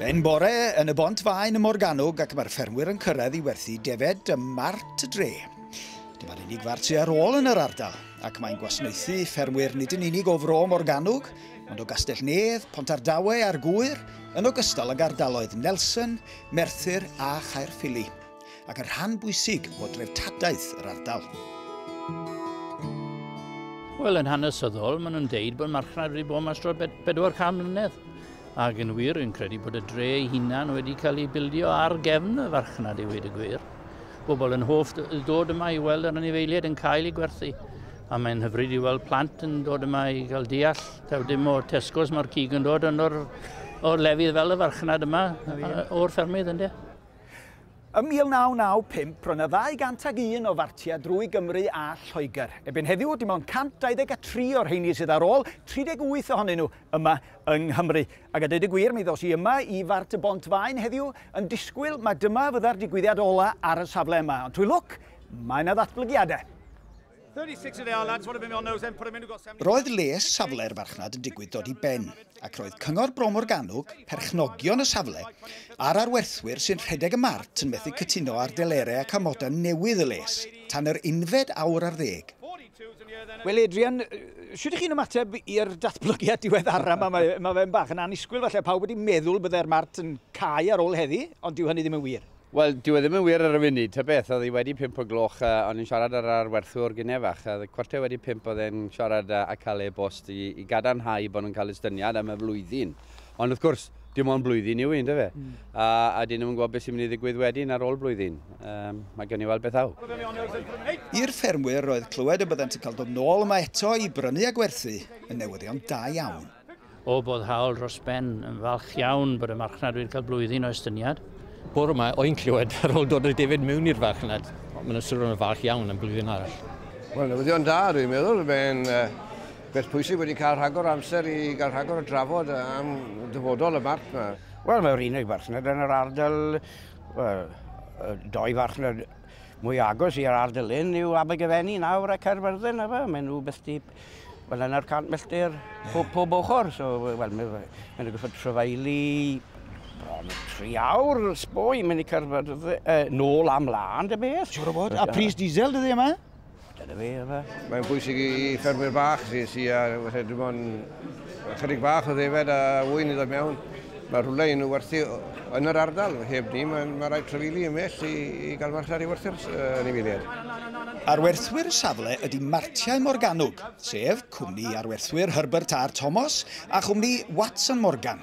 Yn bore yn y bont faen y Morganwg ac mae'r ffermwyr yn cyrraedd i werthu defed ym Mart y Dre. Dyma'r unig fart sydd ar ôl yn yr ardal ac mae'n gwasnaethu ffermwyr nid yn unig o Fro Morganwg ond o Gastell Nedd, Pont Ardawe a'r Gŵyr yn ogystal ag ardaloedd Nelson, Merthyr a Chaerffili. ac yn rhan bwysig o dreftadaeth yr ardal. Wel, yn hanesyddol, maen nhw'n deud bod marchnad wedi bod mas dros 400 mlynedd. Ac yn wir, yn credu bod y dre ei hunan wedi cael ei bildio ar gefn y farchnad i wedi gwir. Bobl yn hoff dod yma i weld yr anifeiliaid yn cael ei gwerthu. A mae'n hyfryd i weld plant yn dod yma i gael deall. Taw dim o Tesco's mae'r cig yn dod, ond o'r, or lefydd fel y farchnad yma, o'r ffermydd ynddo. Ym 1995, roedd yna 201 o fartiau drwy Gymru a Lloegr. Ebyn heddiw, dim ond 123 o'r rheini sydd ar ôl, 38 ohonyn nhw yma yng Nghymru. Ac a dweud y gwir, mi ddos i yma i Fart y Bont Faen heddiw yn disgwyl mae dyma fydda'r digwyddiad ola ar y safle yma. Ond trwy lwc, mae yna ddatblygiadau. Roedd lles safle'r farchnad yn digwydd dod i ben, ac roedd Cyngor Bro Morgannwg, perchnogion y safle, a'r arwerthwyr sy'n rhedeg y mart yn methu cytuno ar delerau ac amodau newydd y les, tan yr unfed awr ar ddeg. Wel Adrian, shwt 'ych chi'n ymateb i'r datblygiad diweddara 'ma? Mae, mae fe'n bach yn annisgwyl falle, pawb wedi meddwl byddai'r mart yn cau ar ôl heddi, ond dyw hynny ddim yn wir. Wel, dyw e ddim yn wir ar y funud, ta beth, oedd hi wedi pump o gloch, a o'n i'n siarad â'r arwerthwr gynne fach, a cwarter wedi pump oedd e'n siarad â Calle Ebost i, i gadarnhau bod nhw'n cael estyniad am y flwyddyn. Ond wrth gwrs, dim ond blwyddyn yw un, dyfe? Mm. A, a dyn nhw'n yn gwybod beth sy'n mynd i ddigwydd wedyn ar ôl blwyddyn. Um, mae gen i weld beth aw. I'r ffermwyr roedd clywed y byddant yn cael dod nôl yma eto i brynu a gwerthu yn newyddion da iawn. O boddhaol dros ben, yn falch iawn bod y marchnad wedi cael blwyddyn o estyniad. Bore yma, o'n clywed ar ôl dod o David mewn i'r farchnad, maen nhw'n swnio'n falch iawn am blwyddyn arall. Wel, newyddion da, dwi'n meddwl. Fe'n uh, beth pwysig wedi cael rhagor o amser i gael rhagor o drafod am dyfodol y barch yma. Wel, mae'r unig farchnad yn yr ardal, well, doi farchnad mwy agos i'r ardal hyn yw Abergyfenni nawr a Caerfyrddin, efe. Maen nhw byth di Wel, yna'r cant milltir pob, pob ochr. So, wel, mae'n mynd i gyffod trefeili bron y tri awr yn sboi, mynd i cyrfa dydde, e, nôl am lan dy beth. Siwr o bod. A pris diesel dydde yma? Dyna fe, yma. Mae'n bwysig i ffermwyr bach sy'n si a falle dim ond Ychydig bach o ddefaid a ŵyn i ddod mewn. Mae rhywle un o werthu yn yr ardal. Heb ni, mae, mae rhaid trefili ymell i, i gael marchnad i werthu'r uh, anifeiliaid. Ar werthwyr safle ydy Martiau Morganwg, sef cwmni arwerthwyr Herbert R Thomas a chwmni Watson Morgan.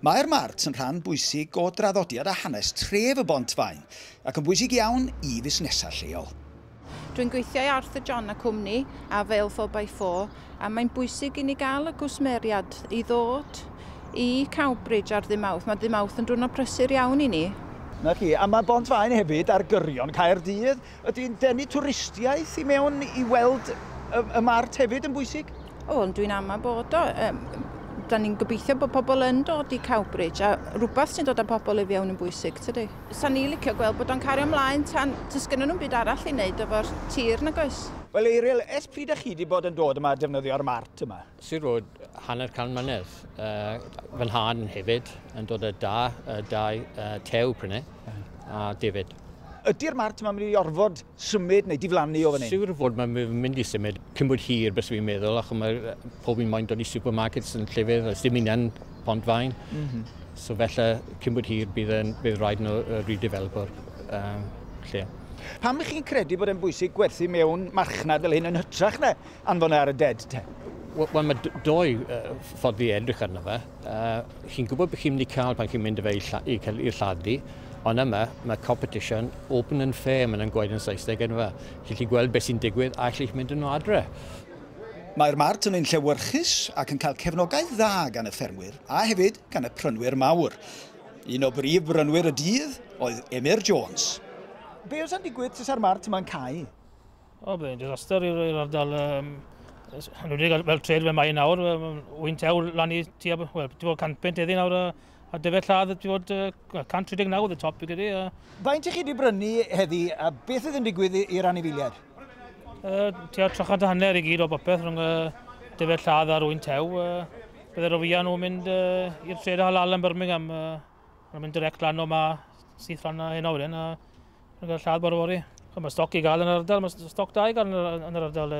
Mae'r Mart yn rhan bwysig o draddodiad a hanes tref y Bont-faen ac yn bwysig iawn i fusnesau lleol. Dwi'n gweithio i Arthur John a Cwmni a Vale Four by Four a mae'n bwysig i ni gael y gwsmeriad i ddod i Cowbridge ar ddydd Mawrth. Mae dydd Mawrth yn diwrnod prysur iawn i ni. 'Na chi. A mae Bont-faen hefyd ar gyrion Caerdydd Ydy'n denu twristiaeth i mewn i weld y, y mart hefyd yn bwysig? O, ond dwi'n ama bod o. Um, da ni'n gobeithio bod pobl yn dod i Cowbridge a rhywbeth sy'n dod â pobl i fiewn yn bwysig, tydi? Sa'n ni licio gweld bod o'n cario ymlaen tan dys gynnyn nhw'n byd arall i wneud efo'r tir nag oes? Wel Eiriel, ers pryd ych chi wedi bod yn dod yma a defnyddio'r mart yma? Sir Road hanner can mlynedd. Uh, fy nhad hefyd yn dod â da, uh, dau uh, tew prynu a David. Ydy'r mart yma'n mynd i orfod symud neu diflannu o fan hyn? Siwr fod mae'n mynd i symud cyn bod hir bys fi'n meddwl ac mae pob un moyn dod i supermarkets yn llefydd a dim union pont fain. Mm -hmm. So felly cyn bod hir bydd, yn, bydd rhaid nhw redeveloper um, lle. Pam ych chi'n credu bod e'n bwysig gwerthu mewn marchnad fel hyn yn hytrach na Anfon e ar y ded, te. Wel, mae doi ffordd i edrych arno fe. Uh, chi'n gwybod beth chi'n mynd i cael pan chi'n mynd i fe i cael i'r lladdu, ond yma mae competition open and fair, mae'n nhw'n gweud yn Saesneg yn yma. Chi'n chi gweld beth sy'n digwydd a chi'n mynd yn o adre. Mae'r mart yn un llewyrchus ac yn cael cefnogaeth dda gan y ffermwyr a hefyd gan y prynwyr mawr. Un o brif brynwyr y dydd oedd Emyr Jones. Be os yn digwydd tysa'r mart yma'n cau? O, bydd yn disaster i'r ardal. Um, Hynwedig fel tred fe mae nawr, wy'n tew lan i tua, wel, ti'n bod 100 pent eddi nawr, a a dyfed lladd ti'n bod uh, 139 oedd y top i gyda. Uh... Faint i chi wedi brynu heddi a beth oedd yn digwydd i'r anifiliad? Uh, tua 300 hanner i gyd o bopeth rhwng uh, dyfed lladd ar wy'n tew. Uh, Byddai'r ofiau nhw'n mynd uh, i'r tred halal yn Birmingham. Uh, Mae'n mynd direct lan o ma syth lan na hyn awren a mae'n cael lladd bore fori. Mae stoc i gael yn yr ardal, mae stoc da i gael yn yr ardal.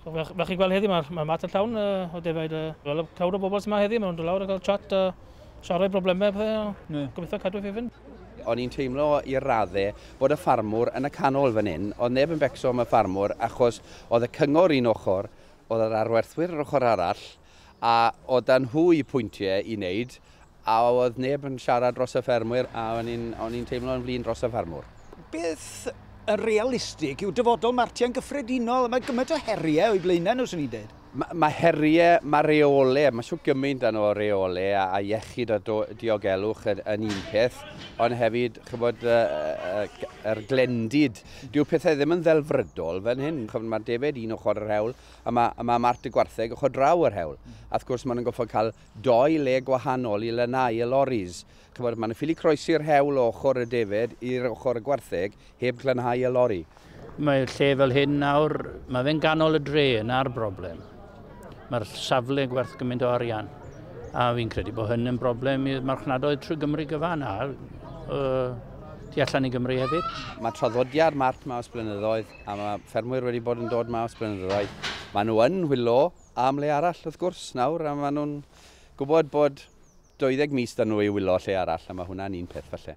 So, fe, fe chi gweld heddi, mae'r ma mat yn llawn uh, o defaid. Uh, wel, y clawd o bobl sy'n ma heddi, mae'n dod lawr a cael chat a uh, siarad problemau a pethau. Yeah. Gobeithio cadw fe fynd. O'n i'n teimlo i'r raddau bod y ffarmwr yn y canol fan hyn, oedd neb yn becso am y ffarmwr achos oedd y cyngor un ochr, oedd yr arwerthwyr yr ochr arall, A oedd 'da nhw eu pwyntiau i wneud, a oedd neb yn siarad dros y ffermwyr, a o'n i'n, o'n i'n teimlo yn flin dros y ffermwr. Beth yn realistig yw dyfodol Martia yn gyffredinol? Mae gymaint o heriau o'i blaenau nhw, 'swn i'n dweud. Mae, mae heriau, mae reolau, mae shwt gymaint da nhw o reolau, a, a iechyd a do, diogelwch yn, yn un peth, ond hefyd, chybod, y, y, yr glendid. Dyw pethau ddim yn ddelfrydol fan hyn. Chybod, mae'r defaid un ochr yr hewl, a mae, a mae Mart y Gwartheg ochr draw yr hewl. A wrth gwrs, maen nhw'n goffod cael doi le gwahanol i lanhau y loris. Chymod, maen nhw'n ffili croesi'r hewl o ochr y defed i'r ochr y gwartheg heb glanhau y lori. Mae'r lle fel hyn nawr, mae fe'n ganol y dre, yna'r broblem. Mae'r safle gwerth gymaint o arian. A fi'n credu bod hyn yn broblem i'r marchnadoedd trwy Gymru gyfan a uh, tu allan i Gymru hefyd. Mae traddodiad Mart Maws blynyddoedd a mae ffermwyr wedi bod yn dod mas bryn ddau. Mae nhw yn hwylo am le arall wrth gwrs nawr, a mae nhw'n gwybod bod 20 mis da nhw i wylo lle arall, a mae hwnna'n un peth falle.